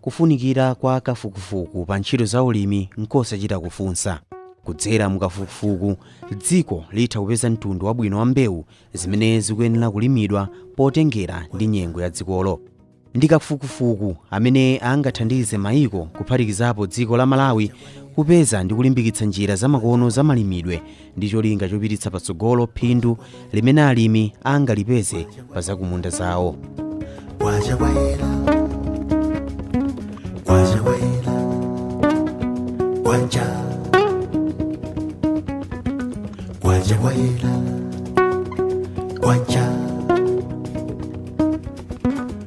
Kufunikira kwa kafukufuku pa ntchito za ulimi nkosachita kufunsa. Kudzera mu kafukufuku, dziko litha kupeza mtundu wabwino wa mbewu zimene zikuyenera kulimidwa potengera ndi nyengo ya dzikolo. Ndi kafukufuku amene angathandize maiko kuphatikizapo dziko la Malawi kupeza ndi kulimbikitsa njira zamakono za malimidwe ndi cholinga chopititsa patsogolo phindu limene alimi angalipeze pa zakumunda zawo Waja waila Waja waila Waja Waja waila Waja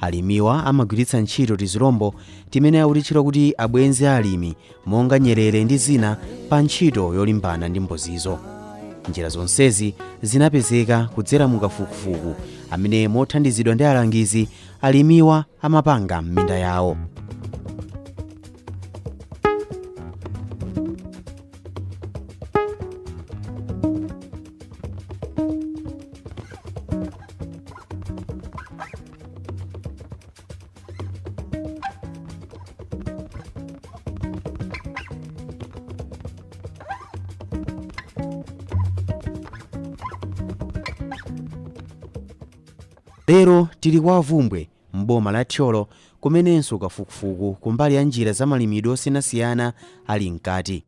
Alimiwa amagwiritsa ntchito tizilombo timene akutitchula kuti abwenzi a alimi monga nyerere ndi zina pa ntchito yolimbana ndi mbozizo. Njira zonsezi zinapezeka kudzera mu kafukufuku amene mothandizidwa ndi alangizi, alimiwa amapanga m'minda yawo. lero tili kwa a Bvumbwe m'boma la thyolo kumenenso kafukufuku kumbali ya njira za malimidwe osiyanasiyana ali mkati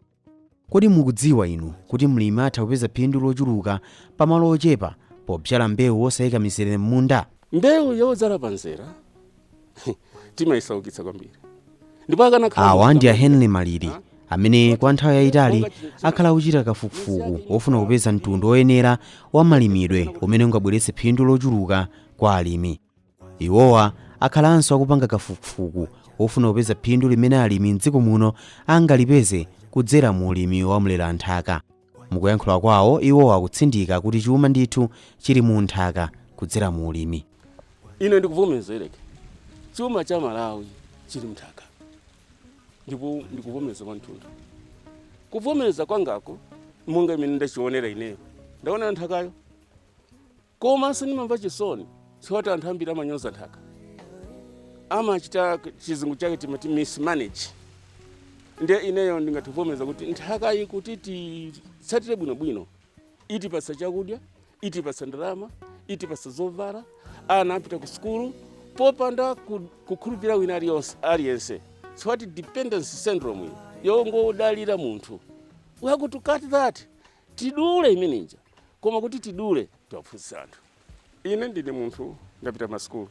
Kodi mukudziwa inu kuti mlimi atha kupeza phindu lochuluka pa malo ochepa pobzala mbewu osaika mizere m'munda? Mbewu yodzala pa mzere timaisaukitsa kwambiri ndipo akanakhala Awa ndi a Henry Maliri amene kwa nthawi yayitali akhala akuchita kafukufuku wofuna kupeza mtundu woyenera wa malimidwe umene ungabweretse phindu lochuluka kwa alimi. Iwowa akhalanso akupanga kafukufuku wofuna kupeza phindu limene alimi m'dziko muno angalipeze kudzera mu ulimi wa mleranthaka. Mukuyankhula kwawo, iwowa akutsindika kuti chuma ndithu chili mu nthaka kudzera mu ulimi. Ine ndikuvomerezadi chuma cha Malawi chili mnthaka ndipo ndikuvomereza kwathunthu. Kuvomereza kwangako monga mmene ndachionera ineyo, ndaonera nthakayo. Komanso ndimamva chisoni chifukwa choti anthu ambiri amanyoza nthaka amachita chizungu chake timati mismanage nde ineyo ndingativomereza kuti nthaka iyi kuti titsatire bwinobwino itipatsa chakudya itipatsa ndalama itipatsa zovala ana apita ku sukulu popanda ku- kukhulupirira wina aliyonse- aliyense chifukwa choti dependency syndrome iyi yongodalira munthu we have to cut that Tidule imene ija. Koma kuti tidule, tiwaphunzitse anthu. Ine ndine munthu ndapita masukulu.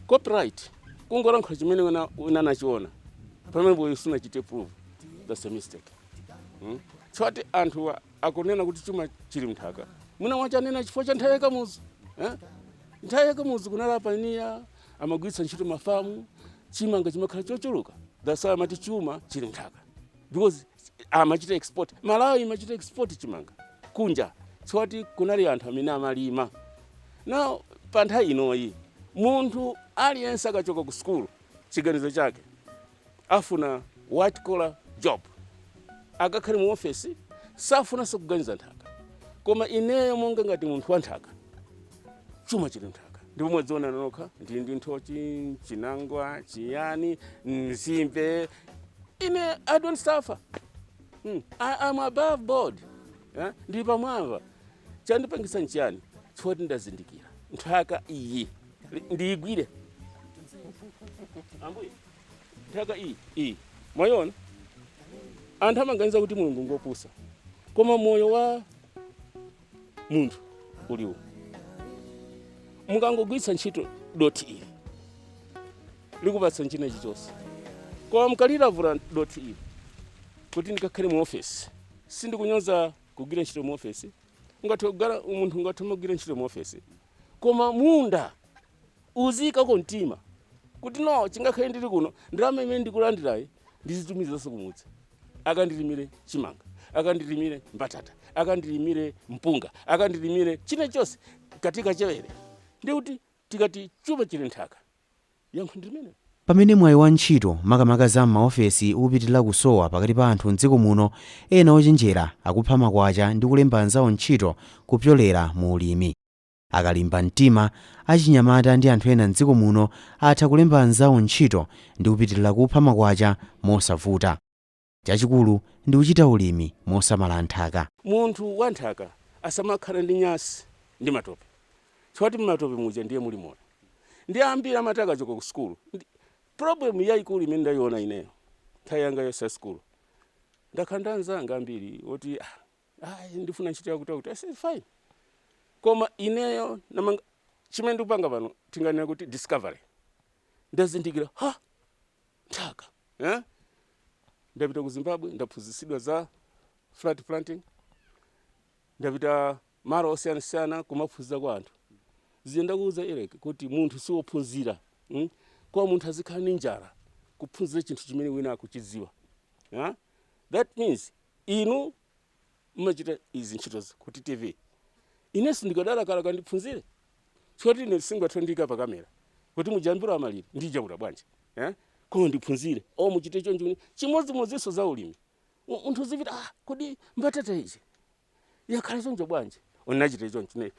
Copyright kungolankhula chimene wina anachiona pamene iweyo sunachite prove that's a mistake hmm? chifukwa choti anthu wa- akunena kuti chuma chili mnthaka mwina anachinena chifukwa cha nthawi ya Kamuzu eh? nthawi ya Kamuzu kunali apaniya amagwiritsa ntchito mafamu chimanga chimakhala chochuluka that's why amati chuma chili mnthaka because amachita export malawi imachita export chimanga kunja choti kunali anthu amene amalima now pa nthawi inoyi munthu aliyense akachoka ku sukulu chiganizo chake afuna white collar job akakhale mu ofesi safunanso kuganiza nthaka koma ineyo monga ngati munthu wa nthaka chuma chili m'nthaka ndipo mwaziona nokha ndili ndi nthochi chinangwa chiyani mzimbe ine i don't suffer mm. I, am above board eh? ndi pamwamba chandipangisa nchiyani choti ndazindikira nthaka iyi ndiyigwire ambuye nthaka iyi iyi mwayiona anthu amaganiza kuti mulungu ngopusa koma moyo wa munthu uli uwu mukangogwiritsa ntchito dothi ili likupatsa china chilichonse koma mukalilavula dothi ili kuti ndikakhale mu ofesi sindikunyoza kugwira ntchito mu ofesi ungathe kukhala munthu ungathe kumagwira ntchito mu ofesi koma munda Uziikako mtima kuti no chingakhale ndili kuno ndalama imene ndikulandirayi ndizitumizanso kumudzi akandilimire chimanga akandilimire mbatata akandilimire mpunga akandilimire china chonse katika chewere ndiye kuti tikati chuma chili m'nthaka yankho ndi limenelo. Pamene mwayi wa ntchito, makamaka za m'maofesi, upitirira kusowa pakati pa anthu m'dziko muno, ena ochenjera akupha makwacha ndi kulemba anzawo ntchito kupyolera mu ulimi. Akalimba mtima, achinyamata ndi anthu ena m'dziko muno atha kulemba anzawo ntchito ndi kupitilira kupha makwacha mosavuta. Chachikulu ndi kuchita ulimi mosamala nthaka. Munthu wa nthaka asamakhale ndi nyansi ndi matope chifukwa choti m'matope muja ndiye muli moyo. Ndiye ambiri amati akachoka ku sukulu ndi problem yaikulu imene ndaiona ineyo nthawi yanga yonse ya sukulu ndakhala ndi anzanga ambiri oti ah, ayi ndifuna ntchito yakutiyakuti I say fine koma ineyo namanga chimene ndikupanga pano tinganena kuti discovery ndazindikira ha nthaka eh? ndapita ku zimbabwe ndaphunzitsidwa za flat planting ndapita malo osiyanasiyana kumaphunzira kwa anthu zija ndakuuza Eric kuti munthu siwophunzira mm? koma munthu azikhala ni njala kuphunzira chinthu chimene wina akuchidziwa yeah? that means inu mumachita izi ntchitozi ku ttv inenso ndikadalakalaka ndiphunzire choti ine singathe kundiika pa kamera kuti mujambule amalira ndijambula bwanji eh? koma ndiphunzire o muchite chonchi chimodzimodzinso za ulimi Mu- munthu uzipita ah, kodi mbatata iyi yakhala choncho bwanji unachita choncho ne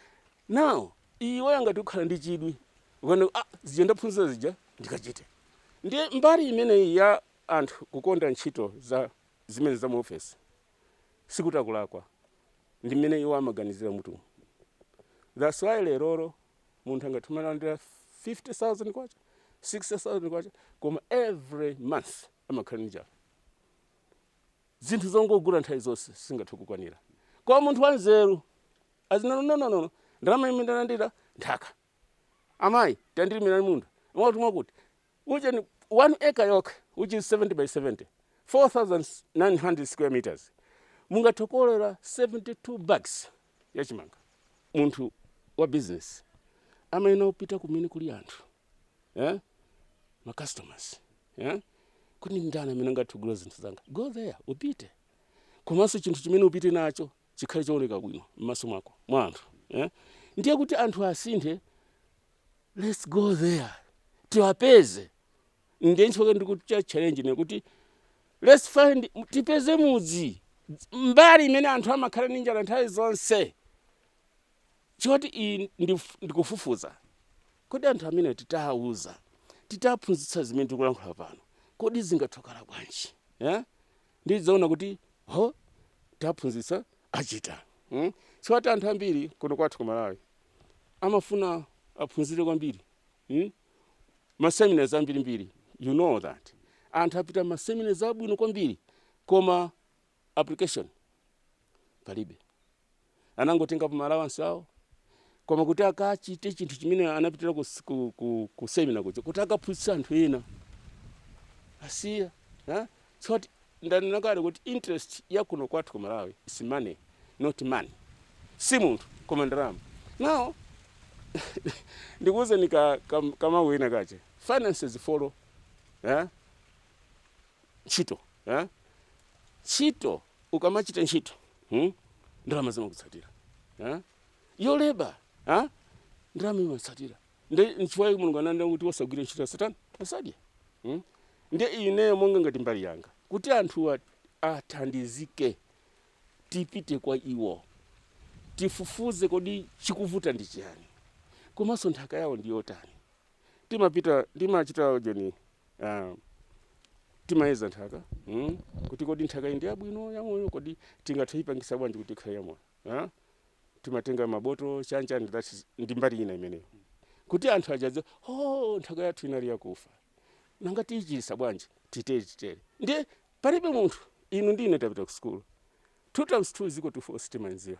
now iwe ngati ukhala ndi chidwi ukanena ah, zija ndaphunzira zija ndikachite ndiye mbali imeneyi ya anthu kukonda ntchito za zimene za mu ofesi sikuti akulakwa ndi mmene iwo amaganizira m'mutumu that's why leroro munthu angathe kumalandira 50000 kwacha 60000 kwacha koma every month amakhala ndi njala zinthu zongogula nthawi zonse singathe kukwanira koma munthu wanzeru azinena no no no no ndalama imene ndalandira nthaka Amayi, tandilimirani munda mwakuti mwakuti, ujeni 1 acre yokha which is 70 by 70, 4900 square meters, mungathe kukolora 72 bags ya chimanga. Munthu wa business amayenera kupita kumene kuli anthu eh? ma customers eh? kuti ndani amene angathe kugula zinthu zanga, go there upite. Komanso chinthu chimene upite nacho chikhale chooneka bwino m'maso mwako mwa anthu eh? ndiye kuti anthu asinthe let's go there tiwapeze ndiye nchifukwa ndikuchita challenge ine kuti let's find tipeze mudzi mbali imene anthu amakhala ndi njala nthawi zonse choti ine ndif- ndikufufuza kodi anthu amene titawuza titaphunzitsa zimene tikulankhula pano kodi zingathe kukhala bwanji yeah? Ndidzaona kuti ho taphunzitsa achita mm? choti anthu ambiri kuno kwathu ku malawi amafuna aphunzire kwambiri mm? maseminars ambirimbiri you know that anthu apita maseminars abwino kwambiri koma application palibe anangotengapo ma allowance awo koma kuti akachite chinthu chimene anapitira ku, s- ku, ku, ku seminar kuja kuti akaphunzitsa anthu ena asiya eh? soti ndanena kale kuti interest ya kuno kwathu ku malawi is money not money si munthu koma ndalama now ndikuwuzeni ka, ka, kamawu ena kache finances follow eh? ntchito eh? ntchito ukamachita ntchito hmm? ndalama zimakutsatira eh? your labour eh? ndalama imatsatira nde nchifukwa chake mulungu ananena kuti osagwira ntchito asatani asadye hmm? nde ineyo monga ngati mbali yanga kuti anthuwa athandizike tipite kwa iwo tifufuze kodi chikuvuta ndi chiyani komanso nthaka yawo ndi yotani timapita timachita ujeni uh, timayeza nthaka mm? kuti kodi nthaka iyi ndi yabwino yamoyo kodi tingathe kuipangitsa bwanji kuti ikhale yamoyo uh? timatenga mabotolo chanchani that's ndi mbali ina imeneyo kuti anthu aja azi oh nthaka yathu inali yakufa nanga tiyichiritsa bwanji titere titere ndiye palibe munthu inu ndi ine tapita ku sukulu two times two is equal to four sitimadziwa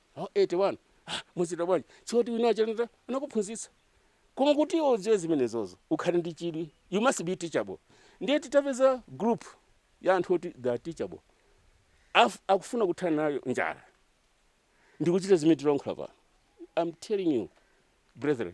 Mu 81 ah muzichita bwanji choti wina wache anata- anakuphunzitsa koma kuti iwe udziwe zimenezozo ukhale ndi chidwi you must be teachable ndiye titapeza group ya anthu oti they are teachable Af, akufuna kuthana nayo njala ndikuchita zimene tilankhula pano I'm telling you brethren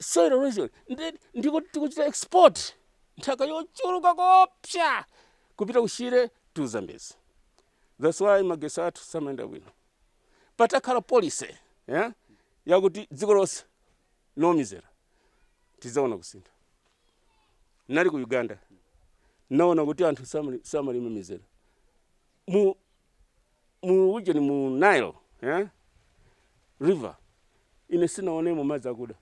soil erosion ndi ndiko tikuchita export nthaka yochuluka koopsa kupita ku Shire to zambezi that's why magesi athu samayenda bwino patakhala policy yeah? yakuti dziko lonse no mizera tizawona kusintha nali ku uganda naona kuti anthu samali- samalima mizera mu mu ujeni mu Nile eh? river ine sinaonemo madzi akuda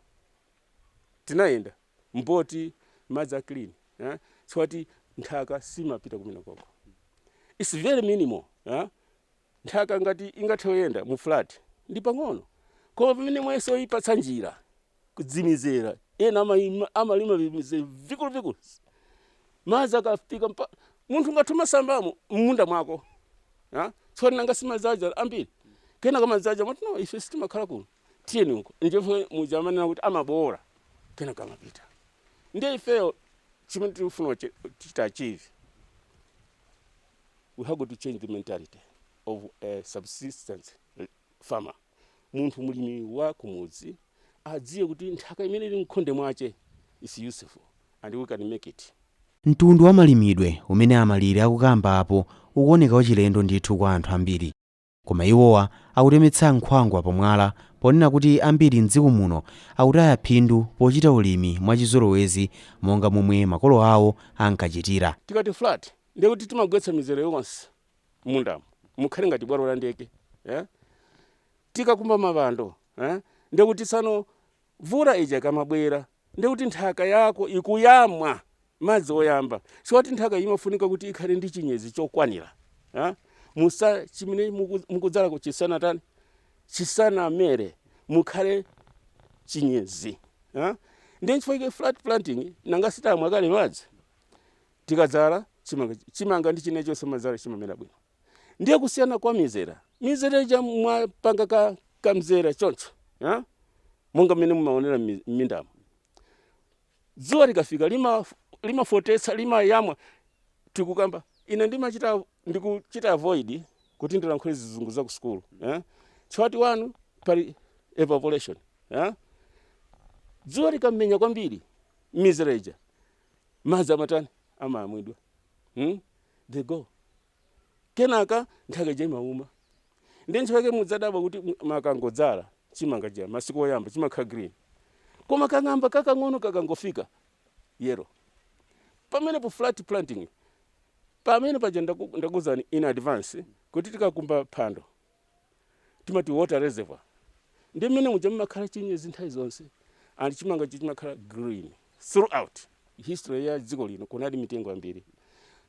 tinayenda mboti madzi a clean eh? si mwati nthaka simapita kumene koko its very minimal eh? nthaka ngati ingathe kuyenda mu flat ndi pang'ono koma pamene mweso ipatsa njira kudzimizera ena amalima, amalima vimize vikuluvikulu madzi akafika mpa munthu ngati umasambamo m'munda mwako ha? tsopano nanga si madzi aja ambiri kenaka madzi aja amati no ife sitimakhala kuno tiyeni uko ndipo muja amanena kuti amabowola kenaka amapita ndiye ifeyo chimene tikufuna uche- tichita achieve we have to change the mentality of a subsistence farmer munthu mlimi wa kumudzi adziwe kuti nthaka imene ili mkhonde mwache is useful and we can make it. Mtundu wa malimidwe umene a Malire akukamba apo ukuoneka wachilendo ndithu kwa anthu ambiri. Koma iwowa akutemetsa nkhwangwa pa mwala ponena kuti ambiri m'dziko muno akutaya phindu pochita ulimi mwa chizolowezi monga momwe makolo awo ankachitira. Tikati flat ndiye kuti timagwetsa mizere yonse mundamo mukhale ngati bwalo la ndege eh? tikakumba mapando eh? ndekuti tsano mvula ija ikamabwera ndekuti nthaka yako ikuyamwa madzi oyamba si mwati nthaka imafunika kuti ikhale ndi chinyezi chokwanira eh? musa chimene muku- mukudzala chisanatani chisanamere mukhale chinyezi eh? ndi nchifukwa chake flat planting nanga sitamwa kale madzi Tikadzala chimanga, chimanga ndi china chonse mumadzala chimamera bwino. Ndiye kusiyana kwa mizera, mizera ija mwapanga ka, ka mzera choncho ha? monga mmene mumaonera mmi- m'mindamu. Dzuwa likafika lima limafootetsa limayamwa tikukamba ine ndimachita ndikuchita avoid kuti ndilankhule zizungu za ku sukulu eh? chifukwa tinganene pali evaporation eh? dzuwa likamenya kwambiri mizera ija madzi amatani amamwidwa hmm? they go kenaka nthaka ija imauma ndiye chifukwa chake mudzadabwa kuti m- makangodzala chimanga chija masiku oyamba chimakhala green koma kang'amba kakang'ono chikangofika yellow pamenepo flat planting pamene paja ndaku- ndakuzani in advance kuti tikakumba phando timati water reservoir ndi mmene muja mmakhala chinyezi nthawi zonse and chimanga chija chimakhala green throughout history ya dziko lino kunali mitengo yambiri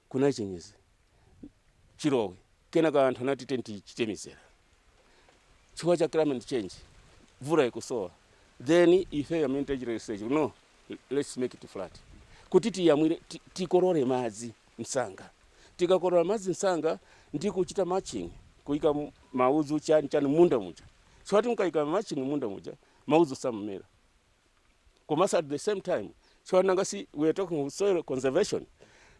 kunali chinyezi chilowe kenaka anthu anati tichite mizera chifukwa cha climate change mvula ikusowa then ife amene tachita research no let's make it flat kuti tiyamwire ti- tikolore madzi msanga. Tikakolola madzi msanga ndi kuchita mulching, kuika maudzu chani chani munda muja, chifukwa mukaika mulching munda muja maudzu samamera komanso at the same time chifukwa nanga si we are talking of soil conservation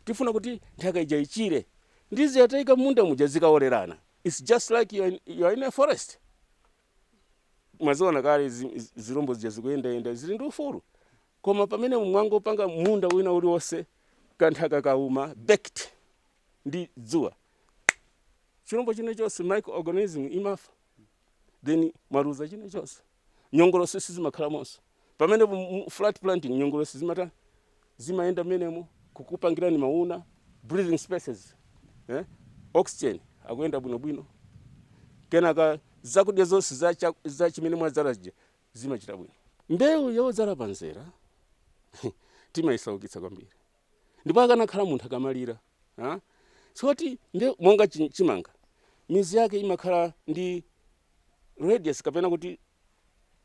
tifuna kuti nthaka ija ichire ndiye zataika munda muja zikaolerana it's just like you are in, you are in a forest mwaziona kale zi- zi- zilombo zija zikuyendayenda zili ndi ufulu koma pamene mwangopanga munda wina uliwonse kanthaka kauma baked ndi dzuwa chilombo china chonse microorganism imafa then mwaluza china chonse nyongolosi sizimakhalamonso Pamenepo mu- mu flat planting nyongolosi zimatha zimayenda mmenemo kukupangirani mauuna breathing spaces eh? oxygen akuyenda bwinobwino kenaka zakudya zonse za, cha- za chimene mwadzala zija zimachita bwino mbewu yodzala pamzera timayisaukitsa kwambiri ndipo akanakhala munthu akanalira ha? moti mbewu monga chi- chimanga mizu yake imakhala ndi radius kapena kuti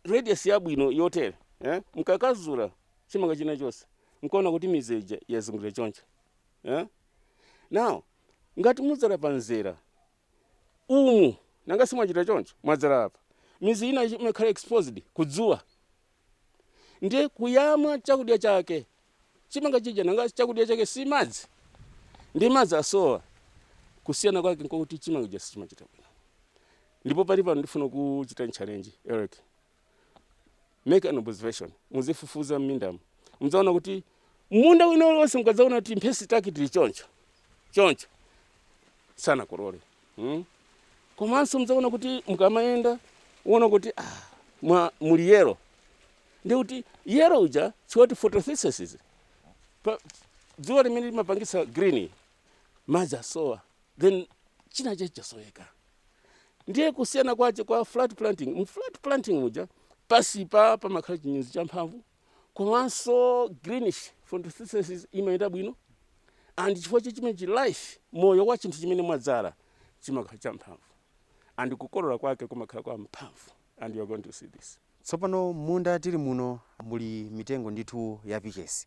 radius yabwino yotere eh? mkakazula chimanga china chonse mkaona kuti mizu ija yazungulira choncho eh? now ngati mudzala pa mzera umu nanga si mwachita choncho mwadzala apa mizu ina imakhala exposed kudzuwa ndiye kuyamwa chakudya chake chimanga chija nanga chakudya chake si madzi ndi madzi asowa kusiyana kwake nkokuti chimanga chija sichimachita bwino ndipo pali pano ndifuna kuchitani challenge eric make an observation muzifufuza m'mindamu mudzaona kuti munda wina uliwonse mukadzaona kuti mphesi take tili choncho choncho sanakolole mm? komanso mudzaona kuti mukamayenda muona kuti ah, mwa muli yellow ndiye kuti yellow uja siwati photosynthesis pa dzuwa limene limapangitsa green madzi asowa then china chake chasoweka ndiye kusiyana kwache kwa flat planting mu flat planting muja pasipa pamakhala chinyezi champhamvu komanso greenish photosynthesis imayenda bwino and chifukwa cha chimenechi life moyo wa chinthu chimene mwadzala chimakhala champhamvu and kukolola kwake kumakhala kwa mphamvu and you are going to see this Tsopano m'munda tili muno muli mitengo ndithu ya pichesi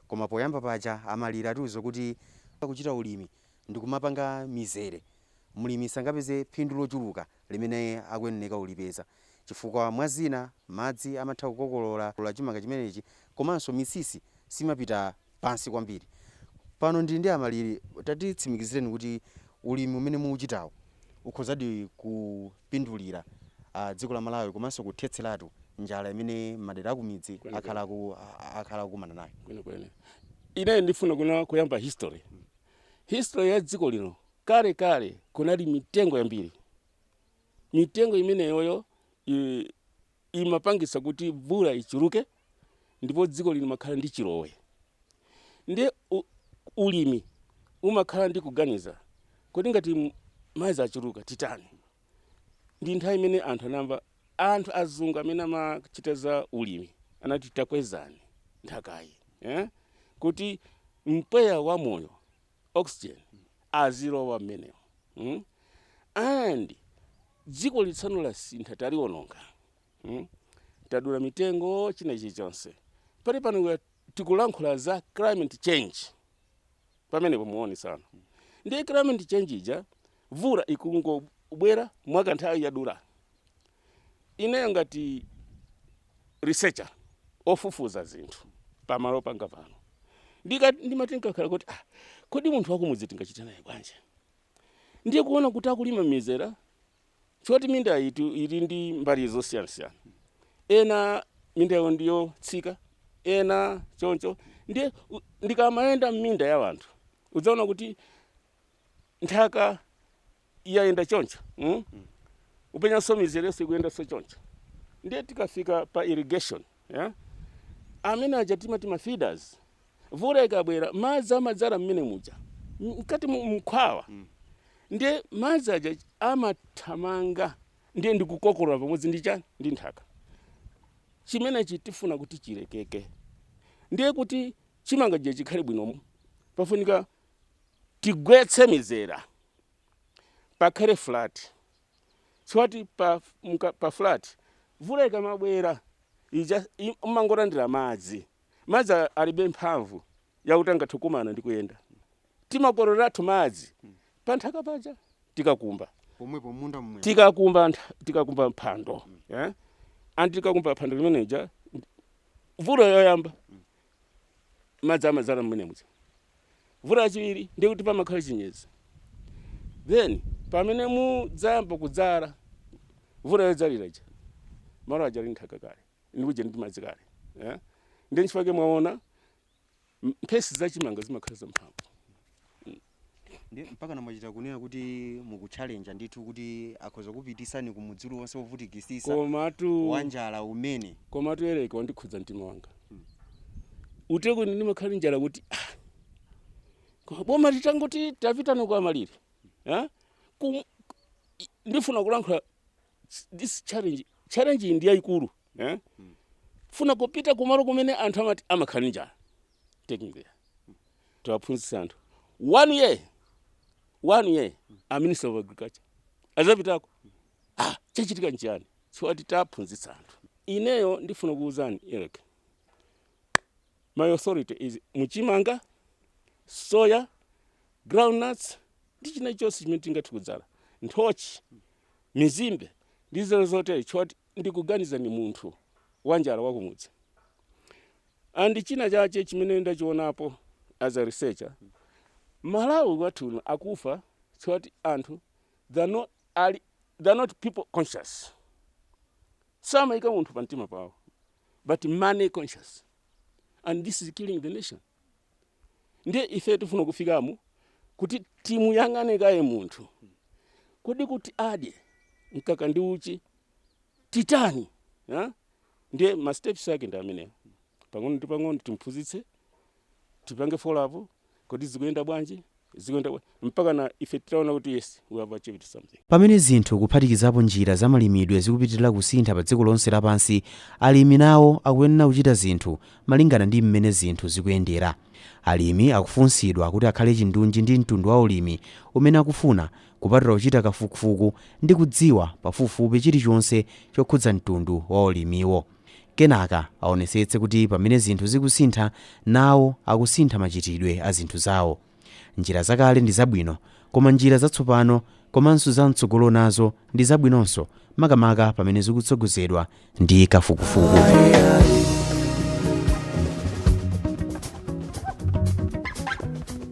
koma poyamba paja a Maliri atiuza kuti kuchita ulimi ndikumapanga mizere mlimi sangapeze phindu lochuluka limene akuyeneneka ulipeza chifukwa mwa zina madzi amatha kukokolola chimanga chimenechi komanso misisi simapita pansi kwambiri. Pano ndili ndi a Maliri, tatitsimikizireni kuti ulimi umene mukuchitawu ukhozadi kupindulira dziko la Malawi komanso kuthetseratu njala imene madera akumidzi akhala akukumana nayo. Kwenikweni ine ndifuna kunena, kuyamba history, history ya dziko lino, kale kale kunali mitengo yambiri, mitengo imeneyoyo i. imapangitsa kuti mvula ichuluke ndipo dzikoli limakhala ndi chilowe ndiye u- ulimi umakhala ndi kuganiza kodi ngati m- madzi achuluka titani ndi nthawi imene anthu anamva anthu azungu amene amachita za ulimi anati takwezani nthakayi eh? kuti mpweya wa moyo oxygen azilowa mmenemo mm and dzikoli tsano lasintha taliononga mm tadula mitengo china chilichonse pali pano we are- tikulankhula za climate change pamenepo muone sana ndiye climate change ija vula ikungobwera mwakanthawi yadula Ineyo ngati researcher, ofufuza zinthu pamalo panga pano, ndika- ndimati ndinkakhala kuti ah, kodi munthu wakumudzi tingachite naye bwanji? Ndiye kuona kuti akulima mizera chonsecho minda yathu ili ndi mbali zosiyanasiyana, ena minda yawo ndi yotsika, ena choncho. Ndiye u- ndikamayenda m'minda ya anthu udzaona kuti nthaka yayenda choncho mm? upenyanso mizerenso ikuyendanso choncho ndiye tikafika pa irrigation yeah? amene aja timati ma feeders vula ikabwera madzi amadzala mmene muja M- mkati mu- mkhwawa ndiye madzi aja amathamanga ndiye ndikukokolola pamodzi ndi chani ndi nthaka chimenechi tifuna kuti chilekeke ndiye kuti chimanga chija chikhale bwino pafunika tigwetse mizera pakhale flat chifukwa pa, mka- pa flat mvula ikamabwera ija i- umangolandira madzi madzi a- alibe mphamvu yakuti angathe kukumana ndi kuyenda timakololeratu madzi pa nthaka paja tikakumba pomwepo munda momwe tikakumba ntha- tikakumba mphando eh? anti tikakumba phando limeneja mvula yoyamba madzi amadzala mmene muja mvula yachiwiri ndiye kuti pamakhala chinyezi then pamene mudzayamba kudzala mvula yodzalira ija malo aja ali nthaka kale ndi uje ndi madzi kale eh? ndiye nchifukwa chake mwaona m- mphesi za chimanga zimakhala zamphamvu Ndiye mpaka namachita kunena kuti mukuchallenge ndithu kuti akhoza kupitisani ku mudzi uliwonse wovutikisisa wanjala umene. komatu Eric wandikhudza mtima wanga hmm. uteko ine ndimakhala ndi njala kuti ah, koma boma litangoti tapitani kwa malire eh? ndifuna kulankhula this challenge challenge ndi yayikulu eh? funa kupita kumalo kumene anthu amati amakhala ndi njala take me there tiwaphunzitse anthu one year one year a minister of agriculture azapitako ah chachitika nchiyani chifukwa taphunzitsa anthu ineyo ndifuna kuwuzani eric my authority is muchimanga soya groundnuts ndi china chonse chimene tingathe kudzala nthochi mizimbe ndi zina zotere chifukwa ndikuganizani munthu wanjala wakumudzi and china chache chimene ndachionapo as a researcher malawi wathu uno akufa chifukwa anthu they're not, ali, they're not people conscious samayika munthu pa mtima pawo but money conscious and this is killing the nation ndiye ife tifuna kufikamo kuti timuyang'ane kaye munthu kodi kuti adye mkaka ndi uchi titani ha? ndiye ma steps ake ndi amenewo pang'ono ndi pang'ono timphunzitse tipange follow up kodi zikuyenda bwanji zikuyenda bwa- mpaka na ife titaona kuti yes we have achieved something Pamene zinthu kuphatikizapo njira za malimidwe zikupitirira kusintha pa dziko lonse lapansi, alimi nawo akuyenera kuchita zinthu malingana ndi mmene zinthu zikuyendera. Alimi akufunsidwa kuti akhale chindunji ndi mtundu wa ulimi umene akufuna kupatula kuchita kafukufuku ndi kudziwa pafupifupi chilichonse chokhudza mtundu wa ulimiwo. Kenaka aonetsetse kuti pamene zinthu zikusintha, nawo akusintha machitidwe a zinthu zawo. Njira zakale ndi zabwino, koma njira zatsopano komanso za mtsogolo nazo ndi zabwinonso makamaka pamene zikutsogozedwa ndi kafukufuku.